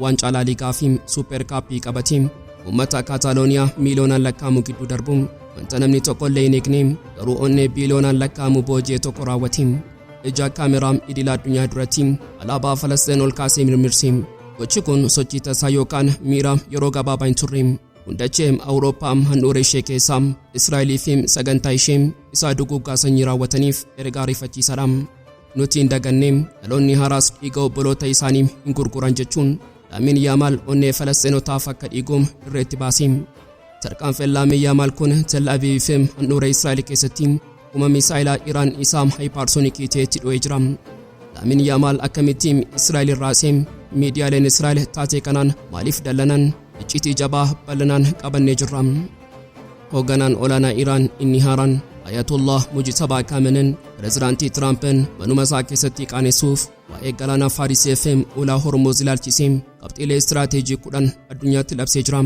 Waancaa Laa Liigaa fi Supheer Kaappii qabatee uummata Kaataalooniyaa miiliyoonaan lakkaa'amu gidduu darbuun wanta namni tokko illee hin eegne garuu onnee biiliyoonaan lakkaa'amu booji'e tokko raawwate. Ija kaameraa idila addunyaa duratti alaabaa Falasxeen ol kaasee mirmirse. Gochi kun sochii tasaa yookaan miira yeroo gabaabaa hin turre. Hundachee Awurooppaa handhuura ishee keessaa Israa'elii fi sagantaa ishee isaa duguuggaa sanyii raawwataniif ergaa ariifachiisaadha. Nuti hin daganne dhaloonni haaraas dhiiga obboloota isaanii hin gurguran jechuun Laamiin Yaamaal onnee Falasxeenotaaf akka dhiigu dirreetti baase. Tarkaanfiin Laamiin Yaamaal kun Tel Aviv fi handhuura Israa'el keessatti humna misaa'ilaa Iraan isaa haayipaarsoonikii ta'etti dho'ee jira. Laamiin Yaamaal akkamitti Israa'el raase? Miidiyaaleen Israa'el taatee kanaan maaliif dallanan? Iccitii jabaa bal'inaan qabannee jirra. Hoogganaan olaanaa Iraan inni haaraan Ayatollah Mujtabaa Kaamenen pirezidaantii Tiraampin manuma isaa keessatti qaanessuuf waa'ee galaanaa Faarisii FM ulaa Hormuuz ilaalchisee qabxiilee istiraateejii kudhan addunyaatti labsee jira.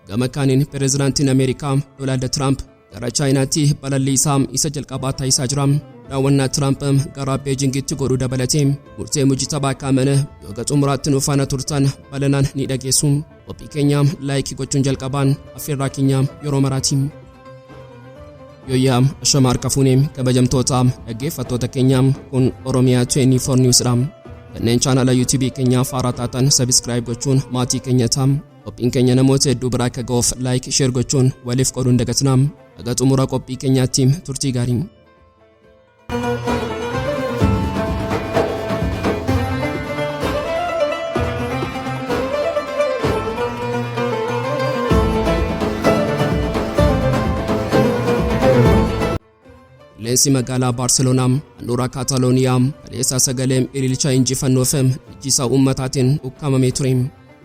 Gama kaaniin pirezidaantiin Ameerikaa Doonaald Tiraamp gara Chaayinaatti balallii isaa isa jalqabaa taasisaa jira. Daawwannaa Tiraamp gara Beejingitti godhu dabalatee murtee Mujtabaa Kaamene yoga xumuraatti nuuf faana turtan balanaan ni dhageessu. Qophii keenya laayikii gochuun jalqabaan affeerraa keenya yeroo maraatiin. Yooyyaa ashama harka fuune kabajamtoota dhaggeeffattoota keenya kun Oromiyaa 24 News dha. Kanneen chaanala YouTube keenyaa faaraa taatan sabiskiraayib gochuun maatii keenya ta'a. Qophiin keenya namoota hedduu biraa akka ga'uuf laayik sheer gochuun waliif qooduu hin dagatinaa. Haga xumura qophii keenyaatti turtii gaarii. Qilleensi magaalaa Baarseloonaa handhuura Kaatalooniyaa kaleessaa sagalee ililcha injifannoo fi dhiichisaa uummataatiin ukkaamamee ture.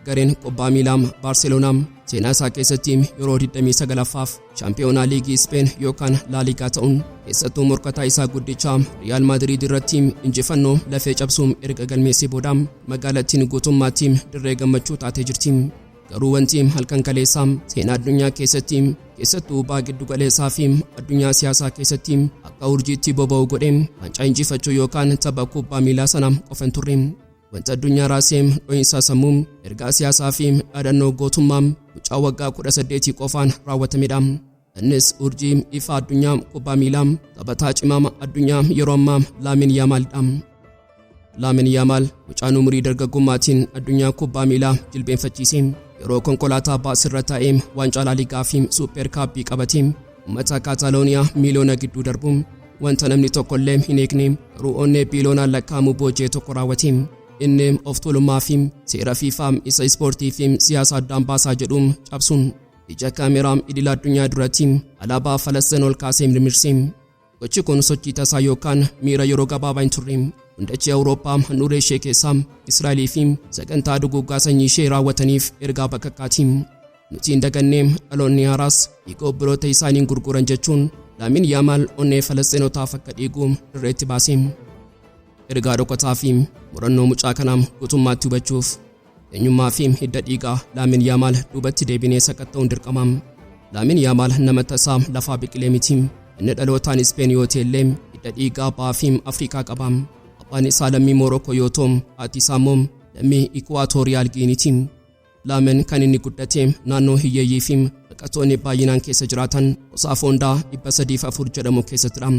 Gareen kubbaa miilaa Baarseloonaa seenaa isaa keessatti yeroo 29ffaaf Shaampiyoonaa Liigii Ispeen yookaan Laaligaa ta'uun keessattuu morkataa isaa guddicha Riyaal Maadiriid irratti injifannoo lafee cabsuun erga galmeessee booda magaalattiin guutummaatti dirree gammachuu taatee jirti. Garuu wanti halkan kaleessaa seenaa addunyaa keessatti keessattuu baa giddu galeessaa fi addunyaa siyaasaa keessatti akka urjiitti boba'u godhe waancaa injifachuu yookaan tapha kubbaa miilaa sana qofa hin turre. Wanti addunyaa raasee dho'insaa sammuu, ergaa siyaasaa fi dhaadannoo gootummaa mucaa waggaa 18 qofaan raawwatamedha. Innis urjii ifaa addunyaa kubbaa miilaa taphataa cimaama addunyaa yeroo ammaa Laamin Yaamaalidha. Laamin Yaamaal mucaan umurii dargaggummaatiin addunyaa kubbaa miilaa jilbeenfachiise yeroo konkolaataa baasirra taa'ee waancaa laaligaa fi suuppeer kaabbii qabate uummata kaataalooniyaa miiliyoona gidduu darbu Wanta namni tokko illee hin eegne ruu'oonnee biiloonaan lakkaa'amu boojee tokko raawwate. Inni of tuulummaa fi seera fiifaa isa ispoortii fi siyaasa addaan baasaa jedhu cabsuun ija kaameraa idila addunyaa duratti alaabaa Falastiin ol kaasee mirmirse. Gochi kun sochii tasaa yookaan miira yeroo gabaabaa hin turre. Hundachee Awurooppaa handhuuree ishee keessaa Israa'elii fi sagantaa duguuggaa sanyii ishee raawwataniif ergaa bakakkaati. Nuti hin dagannee dhaloonni haaraas dhiiga obboloota isaaniin gurguran jechuun Laamiin Yaamaal onnee Falasxeenotaaf akka dhiigu dirreetti baase. Ergaa dhokataa fi murannoo mucaa kanaa guutummaatti hubachuuf eenyummaa fi hidda dhiigaa Laamiin Yaamaal duubatti deebinee sakatta'uun dirqama. Laamiin Yaamaal nama tasaa lafaa biqilee miti. Inni dhalootaan Ispeen yoo ta'e illee hidda dhiigaa ba'aa fi Afrikaa qaba. Abbaan isaa lammii Moorookoo yoo ta'u, haati isaa immoo lammii Ikuwaatooriyaal Giiniiti. Laamen kan inni guddate naannoo hiyyeeyyii fi baqattoonni baay'inaan keessa jiraatan kutaa foondaa 304 jedhamu keessattidha.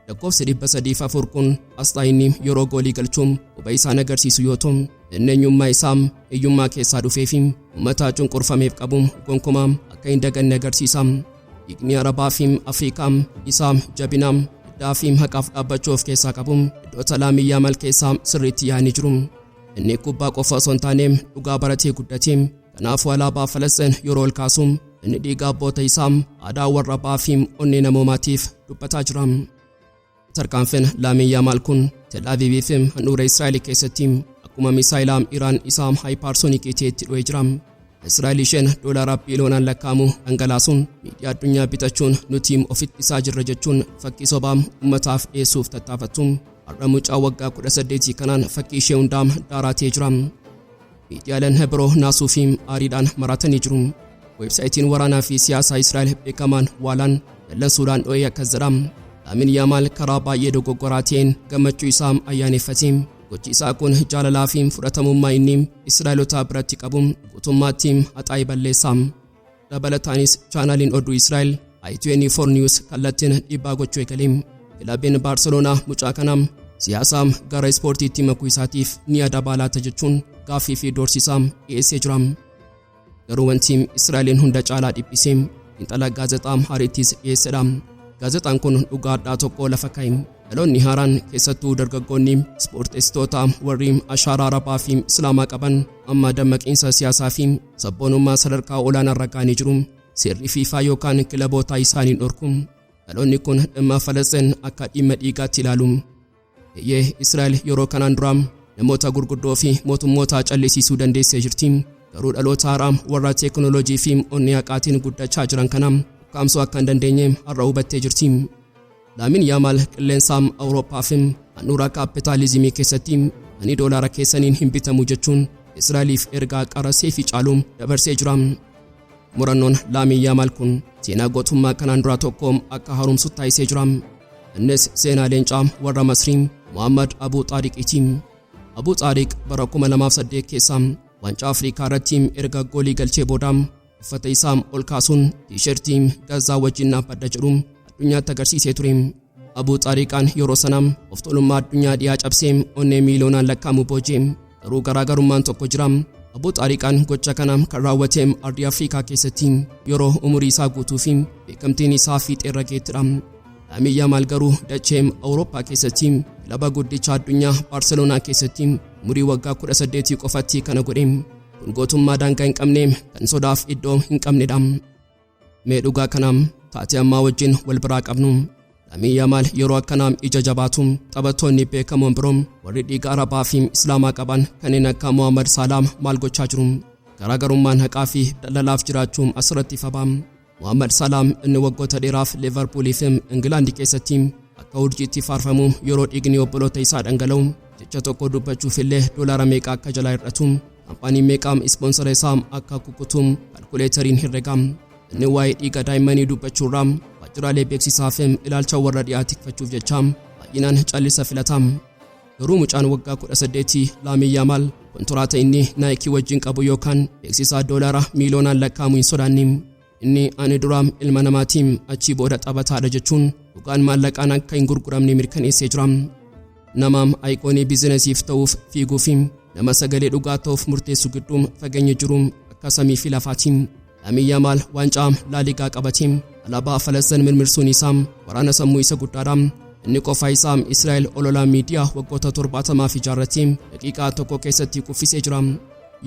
Lakkoofsi 304 kun asxaa inni yeroo goolii galchuun quba isaan agarsiisu yoo ta'u, inni eenyummaa isaa hiyyummaa keessaa dhufee fi uummataa cunqurfameef qabu gonkumaa akka hin daganne agarsiisa. Dhiigni Arabaa fi Afrikaa isaa jabinaa guddaa fi haqaaf dhaabbachuu of keessaa qabu iddoota laamiyyaa mal keessaa sirriitti yaa'anii jiru. Inni kubbaa qofa osoo hin taane dhugaa baratee guddate. Kanaafuu alaabaa Falasxiin yeroo ol kaasu inni dhiiga abboota isaa aadaa warra abbaa fi onnee namoomaatiif dubbataa jira. Tarkaanfiin Laamiin Yaamaal kun Tel Aviivii fi handhuura Israa'el keessatti akkuma misaayilaa Iraan isaa haayipaarsoonikii ta'etti dho'ee jira. Israa'el isheen doolaara biiliyoonaan lakkaa'amu dhangalaasuun miidiyaa addunyaa bitachuun nuti of ittisaa jirra jechuun fakkii sobaa uummataaf dhiyeessuuf tattaafattu. har'a mucaa waggaa 18 kanaan fakkii ishee hundaa daaraa ta'ee jira. Miidiyaaleen biroo naasuu fi aariidhaan maraatanii jiru. Weebsaayitiin waraanaa fi siyaasaa Israa'el beekamaan waalaan dallansuudhaan dho'ee akkas jedha. Laamin Yaamaal karaa baay'ee dogoggoraa ta'een gammachuu isaa ayyaaneffate. Gochi isaa kun jaalalaa fi fudhatamummaa inni Israa'elotaa biratti qabu guutummaatti haxaa'ee balleessa. Dabalataanis chaanaaliin oduu Israa'el I24 News kallattiin dhiibbaa gochuu eegale. Kilabiin Baarseloonaa mucaa kana siyaasaam gara ispoortiitti makuu isaatiif ni adabaa laata jechuun gaaffii fi doorsisaa dhiyeessee jira. Garuu wanti Israa'eliin hunda caalaa dhiphise xiinxala gaazexaa Haarittis dhiyeessedha. Gaazexaan kun dhugaa addaa tokko lafa kaa'e. Dhaloonni haaraan keessattuu dargaggoonni ispoorteessitoota warri ashaaraa arabaa fi islaamaa qaban amma dammaqiinsa siyaasaa fi Sabboonummaa sadarkaa olaanaarra ga'anii jiru. Seerri fiifaa yookaan kilabootaa isaaniin dhorku. Dhaloonni kun dhimma Falasxeen akka dhimma dhiigaatti ilaalu. Eeyyee Israa'el yeroo kanaan duraa namoota gurguddoo fi mootummootaa callisiisuu dandeessee jirti. Garuu dhaloota haaraa warra teekinooloojii fi onnee haqaatiin guddachaa jiran kana ukkaamsuu akka hin dandeenye har'a hubattee jirti. Laamin Yaamaal qilleensa Awurooppaa fi handhuura kaappitaalizimii keessatti ani doolaara keessaniin hin bitamu jechuun Israa'eliif ergaa qara seefii caalu dabarsee jira. Murannoon Laamin Yaamaal kun seenaa gootummaa kanaan duraa tokko akka haaromsu taasisee jira. Innis seenaa leencaa warra Masrii Muhammad Abuu Xaariqiiti. Abuu Xaariq bara 2008 keessa waancaa Afrikaa irratti erga goolii galchee booda Uffata isaa ol kaasuun tiishertii Gazzaa wajjin dhaabbadha jedhu addunyaatti agarsiisee ture. Abuu Xaariqaan yeroo sana of tuulummaa addunyaa dhiyaa cabsee onnee miiliyoonaan lakkaa'amu booje. Garuu garaagarummaan tokko jira. Abuu Xaariqaan gocha kana kan raawwate ardii Afrikaa keessatti yeroo umurii isaa guutuu fi beekamtiin isaa fiixeerra geettidha. Laamii Yaamaal garuu dachee Awurooppaa keessatti kilaba guddicha addunyaa Baarseloonaa keessatti umurii waggaa 18 qofatti kana godhe. kun gootummaa daangaa hin qabne kan sodaaf iddoo hin qabnedha mee dhugaa kana taatee ammaa wajjin wal biraa qabnu Lamii Yamaal yeroo akkanaam ija jabaatu taphattoonni beekamoon biroo warri dhiiga Arabaa fi Islaamaa qaban kanneen akka Mohaammed Saalaam maal gochaa jiru garaagarummaan haqaa fi daldalaaf jiraachuun asirratti fabaam Mohaammed Salaam inni waggoota dheeraaf Liverpool fi Ingilaandi keessatti akka urjiitti faarfamu yeroo dhiigni obboloota isaa dhangala'u jecha tokko dubbachuuf illee doolaara meeqa akka jalaa hir'atu kaampaanii meeqaam ispoonsara isaa akka kukutu kalkuleetariin herrega inni waa'ee dhiiga daa'immanii dubbachuurraa waajjiraalee beeksisaa fi ilaalcha warra dhiyaa tikfachuuf jecha baay'inaan callisa filata. Garuu mucaan waggaa 18 Laamii Yaamaal kontiraata inni Naayikii wajjin qabu yookaan beeksisaa doolaara miiliyoonaan lakkaa'amu hin sodaanne. Inni ani duraam ilma namaatiin achii booda taphataadha jechuun dhugaan maallaqaan akka hin gurguramne mirkaneessee jira. Namaam ayiqoonii biizinasiif ta'uuf fiiguu fi nama sagalee dhugaa ta'uuf murteessu gidduu fageenyi jiru akka samii fi lafaatiin. Laamiin Yaamaal waancaa Laaligaa qabatee alaabaa Falasxiin mirmirsuun isaa waraana sammuu isa guddaadha. Inni qofaa isaa Israa'el ololaa miidiyaa waggoota 70f ijaarratee daqiiqaa tokko keessatti kuffisee jira.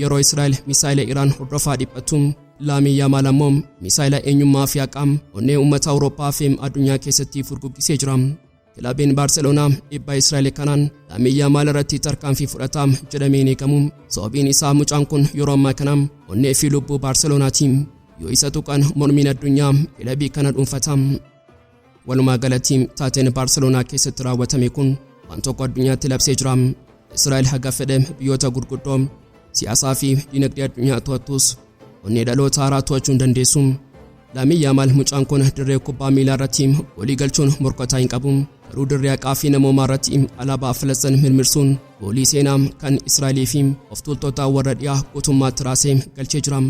Yeroo Israa'el misaa'ila Iraan hordofaa dhiphattu, Laamiin Yaamaal ammoo misaa'ila eenyummaa fi haqaa onnee uummata Awurooppaa fi addunyaa keessatti furguggisee jira. Kilabiin Baarseloonaa dhibbaa Israa'el kanaan Laamii Yaamaal irratti tarkaanfii fudhata jedhamee hin eegamu. Sababiin isaa mucaan kun yeroo ammaa kana onnee fi lubbuu Baarseloonaati. Yoo isa tuqan mormiin addunyaa kilabii kana dhuunfata. Walumaa galatti taateen Baarseloonaa keessatti raawwatame kun waan tokko addunyaatti labsee jira. Israa'el haga fedhe biyyoota gurguddoo siyaasaa fi dinagdee addunyaa to'attus onnee dhaloota haaraa to'achuu hin dandeessu. Laamiin Yaamaal mucaan kun dirree kubbaa miilaa irratti goolii galchuun morkataa hin qabu. Garuu dirree haqaa fi namoomaa irratti alaabaa Filisxin mirmirsuun goolii seenaa kan Israa'elii fi of tuultota warra dhiyaa guutummaatti raasee galchee jira.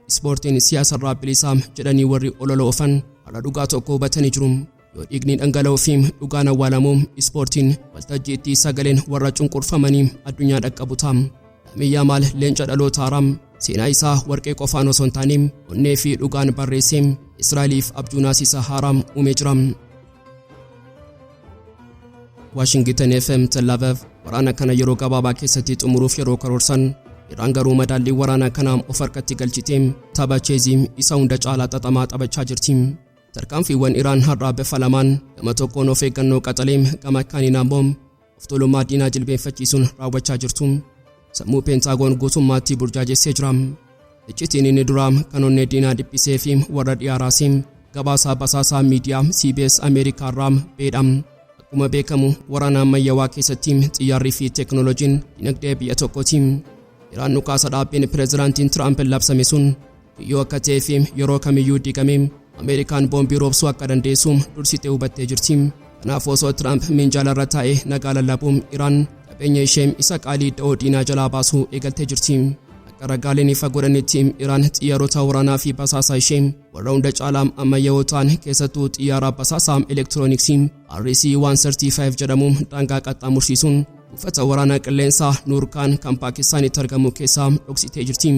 Ispoortiin siyaasarraa bilisaa jedhanii warri olola oofan har'a dhugaa tokko hubatanii jiru. yoo dhiigni dhangala'uu fi dhugaan awwaalamu ispoortiin waltajjiitti sagaleen warra cunqurfamanii addunyaa dhaqqabu ta'a. Laamiin Yaamaal leenca dhaloota haaraa seenaa isaa warqee qofaan osoo hin taane onnee fi dhugaan barreessee Israa'eliif abjuu naasisa haaraa uumee jira. Waashingiten FM Tellaavev waraana kana yeroo gabaabaa keessatti xumuruuf yeroo karoorsan Iraan garuu madaallii waraanaa kanaa of harkatti galchitee tapha cheezii isa hunda caalaa xaxamaa taphachaa jirti. Tarkaanfiiwwan Iraan har'aa bifa lamaan gama tokkoon of eeggannoo qaxalee gama kaaniin ammoo of tuulummaa diinaa jilbeenfachiisuun raawwachaa jirtu sammuu peentaagoon guutummaatti burjaajessee jira. Iccitiin inni duraa kan onnee diinaa dhiphisee fi warra dhiyaa raasee gabaasaa basaasaa miidiyaa CBS Ameerikaa irraa beedha. Akkuma beekamu waraana ammayyawaa keessatti xiyyaarrii fi teeknooloojiin dinagdee biyya tokkooti. Iraan dhukaasa dhaabbiin pireezidaantiin Tiraamp labsame sun Yoo akka ta'ee fi yeroo kamiyyuu diigamee Ameerikaan boombii roobsuu akka dandeessu dursitee hubattee jirti. Kanaaf osoo Tiraamp minjaala irra taa'ee nagaa lallabu Iraan qabeenya ishee isa qaalii da'oo diinaa jalaa baasuu eegaltee jirti. Akka ragaaleen ifa godhanitti Iraan xiyyaarota waraanaa fi basaasaa ishee warra hunda caalaa ammayyaa'oo ta'an keessattuu xiyyaara basaasaa elektirooniksii RC-135 jedhamu daangaa qaxxaamursiisuun buufata waraanaa qilleensaa Nuurkaan kan Paakistaanitti argamu keessaa dhoksitee jirti.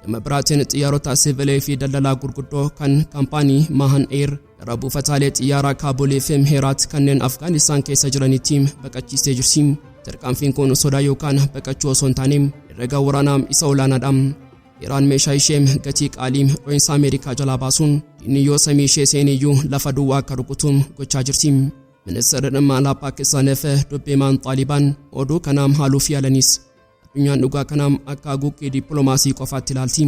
Gama biraatiin xiyyaarota siivilee fi daldalaa gurguddoo kan kaampaanii Maahan Eer gara buufataalee xiyyaaraa Kaabulee fi Mheeraat kanneen Afgaanistaan keessa jiranitti baqachiistee jirti. Tarkaanfiin kun sodaa yookaan baqachuu osoo hin taane herrega waraanaa isa olaanaadha. Iraan meeshaa ishee gatii qaalii dho'insa Ameerikaa jalaa baasuun diinni yoo samii ishee seeniyyuu lafa duwwaa akka rukutu gochaa jirti. Ministeerri dhimma alaa Paakistaan fi dubbii maan Xaalibaan oduu kanaam haaluuf yaalanis Addunyaan dhugaa kana akka haguuggii dippiloomaasii qofaatti ilaalti.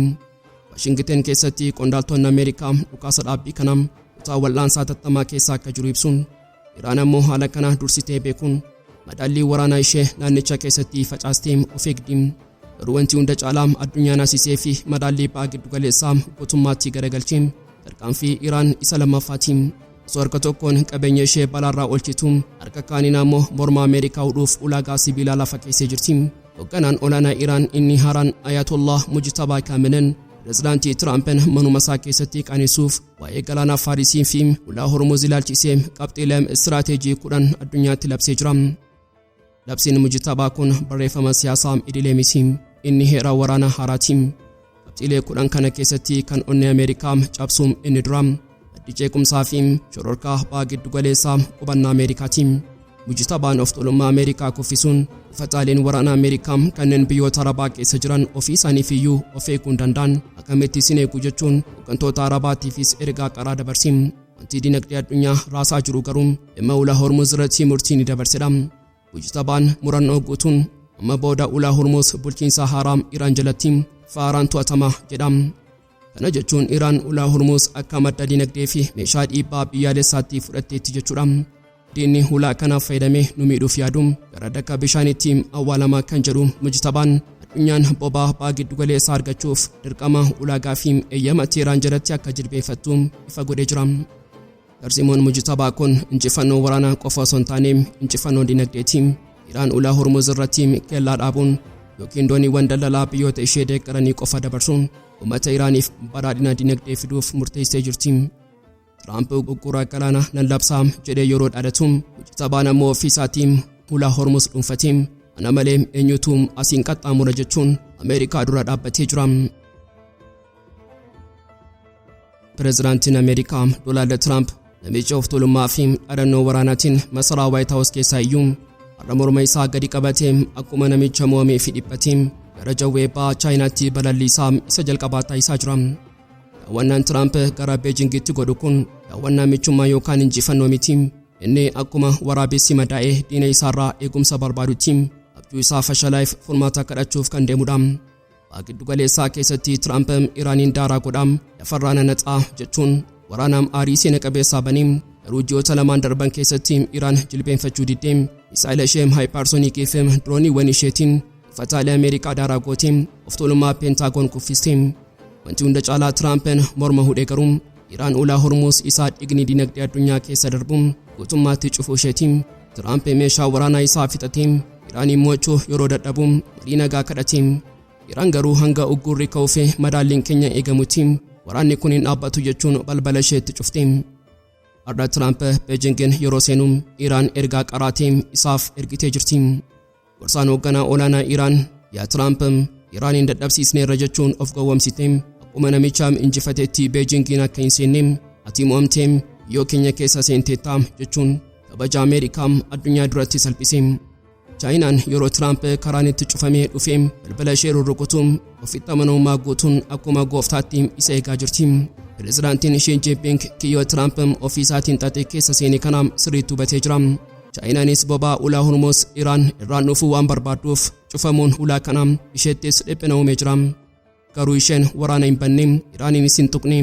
Waashingiten keessatti qondaaltonni Ameerikaa dhukaasa dhaabbii kana kutaa wal'aansaa tattamaa keessa akka jiru ibsuun Iraan ammoo haala kana dursitee beekuun madaallii waraanaa ishee naannicha keessatti facaastee of eegdi. Garuu wanti hunda caalaa addunyaan asisee fi madaallii ba'aa giddugaleessaa guutummaatti garagalchee tarkaanfii Iraan isa lammaffaati. Osoo harka tokkoon qabeenya ishee balaarraa oolchitu, harka kaaniin ammoo morma Ameerikaa hudhuuf ulaagaa sibiilaa lafa keessee jirti. Hogganaan olaanaa Iraan inni haaraan Ayatollah Mujtabaa Kaamenen pirezidaantii Tiraampen manuma isaa keessatti qaanessuuf waa'ee galaanaa Faarisii fi ulaa Hormuz ilaalchisee qabxiilee istiraateejii kudhan addunyaatti labsee jira. Labsiin mujtabaa kun barreeffama siyaasaa idilee miti. Inni heera waraana haaraati. Qabxiilee kudhan kana keessatti kan onnee Ameerikaa cabsu inni dura maddi ceequmsaa fi shororkaa abbaa giddugaleessaa qubannaa Ameerikaati. Mujtabaan of tuulummaa Ameerikaa kuffisuun buufataaleen waraana Ameerikaa kanneen biyyoota Arabaa keessa jiran ofii isaaniif iyyuu of eeguu hin danda'an akkamitti isin eegu jechuun hooggantoota Arabaatiifis ergaa qaraa dabarsi. Wanti dinagdee addunyaa raasaa jiru garuu dhimma ulaa Hormuuz irratti murtii ni dabarsedha. Mujtabaan murannoo guutuun amma booda ulaa Hormuuz bulchiinsa haaraa Iraan jalatti faaraan to'atama jedha. Kana jechuun Iraan ulaa Hormuuz akka madda dinagdee fi meeshaa dhiibbaa biyyaalessaatti fudhatteetti jechuudha. Diinni hulaa kanaaf fayyadamee nu miidhuuf yaadu gara daka bishaaniitti awwaalamaa kan jedhu Mujtabaan addunyaan bobaa baa giddugaleessaa argachuuf dirqama ulaagaa fi eeyyama Teeraan jalatti akka jilbeeffattu ifa godhee jira. Tarsiimoon Mujtabaa kun injifannoo waraanaa qofa osoo hin taane injifannoo dinagdeeti. Iraan ulaa Hormuz irratti kellaa dhaabuun yookiin dooniiwwan daldalaa biyyoota ishee deeggaranii qofa dabarsuun uummata Iraaniif badhaadhina dinagdee fiduuf murteessee jirti. Tiraamp uggura galaanaa nan labsaa jedhee yeroo dhaadatu sabaan ammoo ofii isaatiin hulaa hormus dhuunfatee ana malee eenyutu asiin qaxxaamura jechuun Ameerikaa dura dhaabbatee jira. Pireezidaantiin Ameerikaa Doonaald Tiraamp namicha of tuulummaa fi dhaadannoo waraanaatiin masaraa Waayit Haawus keessaa iyyuu har'a morma isaa gadi qabatee akkuma namicha mo'amee fi dhiphatee gara jawwee ba'a Chaayinaatti balalliisaa isa jalqabaa taasisaa jira. Daawwannaan Tiraamp gara Beejingitti godhu kun daawwannaa michummaa yookaan injifannoo miti. Inni akkuma waraabessi madaa'ee diina isaarraa eegumsa barbaadutti abjuu isaa fashalaa'eef furmaata kadhachuuf kan deemudha. Waa giddu galeessaa keessatti Tiraamp Iraaniin daaraa godhaa lafarraa nanaxaa jechuun waraanaam aarii seena qabeessaa banee garuu ji'oota lamaan darban keessatti Iraan jilbeenfachuu diddee misaa'ila ishee haayipaarsoniikii fi dirooniiwwan isheetiin Fataalee Ameerikaa daaraa gootee of tuulummaa Peentaagoon kuffistee. Wanti hunda caalaa Tiraampin morma hudhee garuu Iraan ulaa Hormuus isaa dhigni dinagdee addunyaa keessa darbu guutummaatti cufuu isheeti. Tiraamp meeshaa waraanaa isaa fixatee Iraaniin mo'achuu yeroo dadhabu marii nagaa kadhate. Iraan garuu hanga uggurri ka'uu fi madaalliin keenya eegamutti waraanni kun hin dhaabbatu jechuun balbala isheetti cufte. Har'a Tiraamp Beejingin yeroo seenu Iraan ergaa qaraatee isaaf ergitee jirti. Gorsaan hoogganaa olaanaa Iraan yaa Tiraamp Iraaniin dadhabsiisneerra jechuun of gowwomsite akkuma namichaam injifateetti Beejingiin akka hin seenne ati mo'amteem biyyoo keenya keessa seenteettaam jechuun kabaja Ameerikaam addunyaa duratti salphise. Chaayinaan yeroo Tiraamp karaan itti cufamee dhufee balbala ishee rurrukutuun ofitti amanamummaa guutuun akkuma gooftaatti isa eegaa jirti. Pirezidaantiin Shii Jinping kiyyoo Tiraamp ofii isaatiin xaxee keessa seene kana sirriitti hubatee jira. Chaayinaanis bobaa ulaa Hormuuz Iraan irraan dhufuu waan barbaadduuf cufamuun ulaa kanaa isheettis dhiphina uumee jira. Garuu isheen waraana hin banne, Iraaniinis hin tuqne.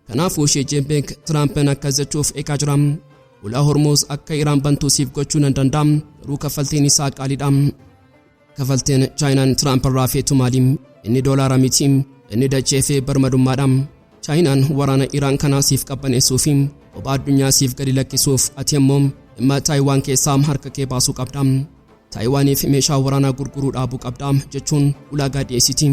Kanaafuu ishee Jinping Tiraampiin akkas jechuuf eegaa jira. Ulaa Hormuuz akka Iraan bantuu siif gochuu nan danda'a, garuu kaffaltiin isaa qaaliidha. Kafalteen Chaayinaan Tiraamp irraa feetu maali? Inni doolaara miti, inni dachee fi birmadummaadha. Chaayinaan waraana Iraan kanaa siif qabbaneessuu fi kophaa addunyaa siif gadi lakkisuuf ati immoo dhimma Taayiwaan keessaa harka kee baasuu qabda. Taayiwaaniif meeshaa waraanaa gurguruu dhaabuu qabda jechuun ulaagaa dhiyeessiti.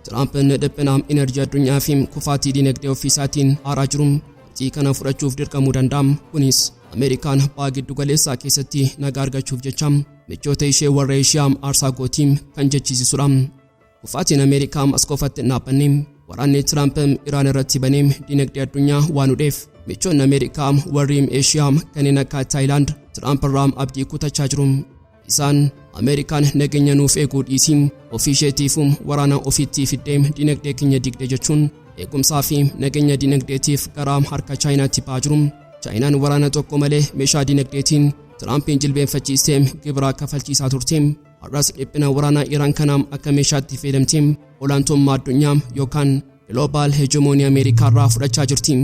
Tiraamp inni dhiphina enerjii addunyaa fi kufaatii dinagdee ofiisaatiin aaraa jiru murtii kana fudhachuuf dirqamuu danda'a. Kunis Ameerikaan baha giddu galeessaa keessatti nagaa argachuuf jecha michoota ishee warra Eeshiyaa aarsaa gootii kan jechiisisudha. Kufaatiin Ameerikaa as qofatti hin dhaabbanne. Waraanni Tiraamp Iraan irratti banee dinagdee addunyaa waan hudheef michoonni Ameerikaa warri Eeshiyaa kanneen akka Taayilaand Tiraamp irraa abdii kutachaa jiru. Isaan Ameerikaan nageenya nuuf eeguu dhiisii ofii isheetiifuu waraana ofiitti fiddee dinagdee keenya digde jechuun eegumsaa fi nageenya dinagdeetiif garaa harka Chaayinaatti ba'aa jiru. Chaayinaan waraana tokko malee meeshaa dinagdeetiin Tiraampiin jilbeenfachiistee gibiraa kafalchiisaa turte. Har'as dhiphina waraanaa Iraan kanaam akka meeshaatti fayyadamte olaantummaa addunyaa yookaan global hegemonii Ameerikaa irraa fudhachaa jirti.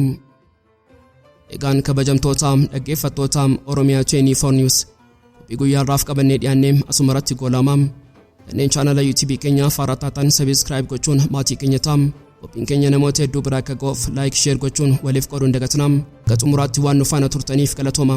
Egaan kabajamtoota dhaggeeffattoota Oromiyaa 24 News qophii guyyaa irraaf qabannee dhiyaannee asuma irratti goolama. Kanneen chaanala YouTube keenya faaraa taatan sabiskiraayib gochuun maatii keenya ta'a. Qophiin keenya namoota hedduu biraa akka ga'uuf laayik sheer gochuun waliif qooduu hin dagatinaa. Gaxumuraatti waan nu faana turtaniif galatooma.